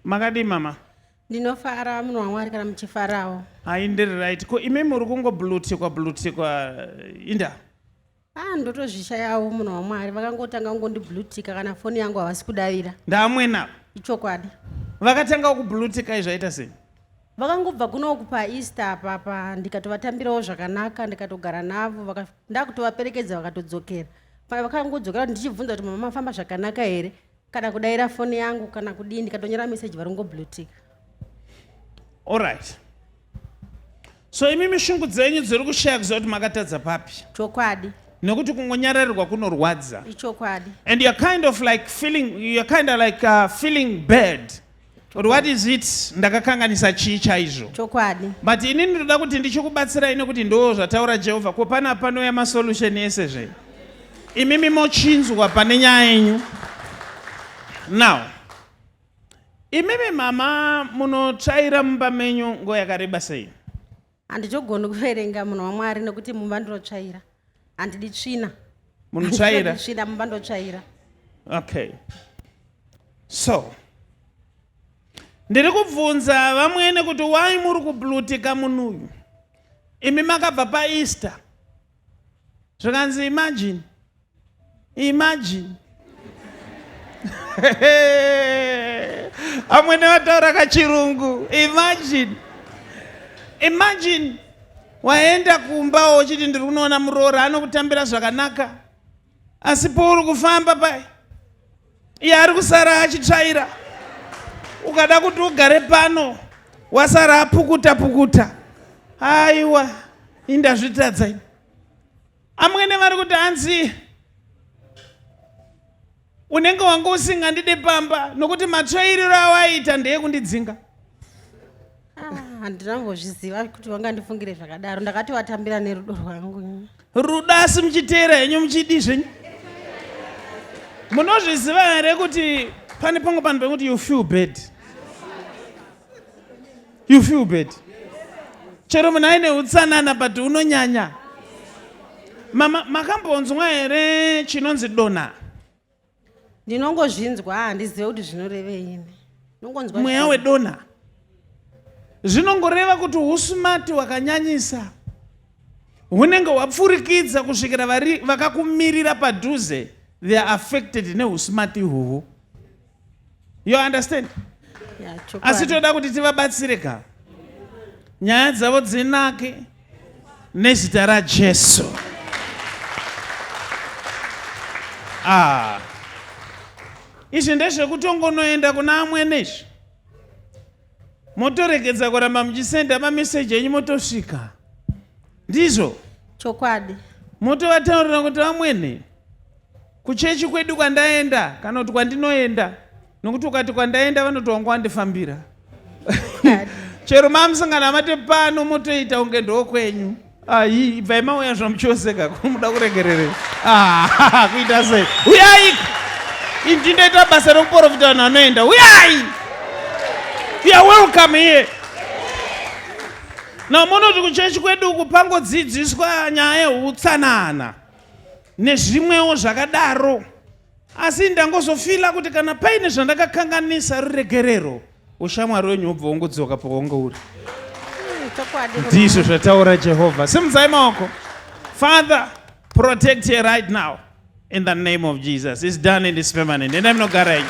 makadii mama ndinofara munhu wamwari kana muchifarawo hai ndiri right ko imi muri kungoblutikwa blutikwa eh, inda ah ndotozvishayawo munhu wamwari vakangotanga kungondiblutika kana foni yangu havasi kudavira ndaamwenavo ichokwadi vakatanga kublutika izvaita sei vakangobva kunoku paeaster apapa ndikatovatambirawo zvakanaka ndikatogara navo vaka- ndakutovaperekedza vakatodzokera Pa- vakangodzokera kuti ndichibvunza kuti mama mafamba zvakanaka here kana kudaira foni yangu kana kudii ndikatonyora meseji varongoblutika orit so imi mishungu dzenyu dziri kushaya kuziva kuti makatadza papi chokwadi nekuti kungonyararirwa kunorwadza ichokwadi and you're kind of like feeling, you're kind of like uh, feeling bad Or what is it ndakakanganisa chii chaizvo chokwadi but ini ndinoda kuti ndichikubatsirai nekuti ndoo zvataura jehovha ko pana panouya masolution ese zve imimi mochinzwa pane nyaya yenyu now imimi mama munotsvaira mumba menyu ngo yakareba sei handitogoni kuverenga munhu wamwari nekuti mumba ndinotsvaira handidi tsvina munotsvaira tsvina mumba ndotsvaira okay so ndiri kubvunza vamwene kuti wai muri kublutika munhu uyu imi makabva paeaster zvikanzi imagine Imagine. Amwene vataura kachirungu. Imagine. Imagine waenda kumba wochiti ndiri kunoona muroora anokutambira zvakanaka asi pouri kufamba pai iye ari kusara achitsvaira ukada kuti ugare pano wasara apukuta pukuta aiwa indazvitadza ini Amwene vari kuti hanzi unenge wanga usingandide pamba nokuti matsvairiro awaita ndeyekundidzinga handina mbozviziva kuti vangandifungire zvakadaro ndakati vatambira nerudo rwangu rudo asi muchiteera henyu muchidi zvenyu munozviziva here kuti pane pamwe panhu pekuti you feel bad you feel bad chero munhu aine utsanana but unonyanya mama makambonzwa here chinonzi dona ndinongozvinzwa handizive kuti zvinoreveini nongonzwa mweya wedona zvinongoreva kuti usumati wakanyanyisa hunenge hwapfurikidza kusvikira vakakumirira padhuze they are affected neusumati ihoho you understand yeah, asi toda kuti tivabatsire ka nyaya dzavo dzinake nezita rajesu ah. izvi ndezvekutongonoenda kuna amwene izvi motoregedza kuramba muchisenda mameseji enyu motosvika ndizvo chokwadi motovataurira kuti vamwene Kuchechi kwedu kwandaenda kana kuti kwandinoenda nokuti ukati kwandaenda vanoti wanga wandifambira chero mamusangana mate pano motoita unge ndokwenyu ayi ibvai mauya zvamuchoseka kumuda kuregererei ah, kuita sei uyai inji ndoita basa rekuporofita vanhu vanoenda uyai ya welcome here namonoti kuchechi kwedu uku pangodzidziswa nyaya yeutsanana nezvimwewo zvakadaro asi ndangozofila kuti kana paine zvandakakanganisa ruregerero ushamwari wenyu wobva wongodzoka pawange uri hmm, ndizvo zvataura jehovha simudzai maoko father protect her right now in the name of jesus is done and is permanent endai munogara yenyu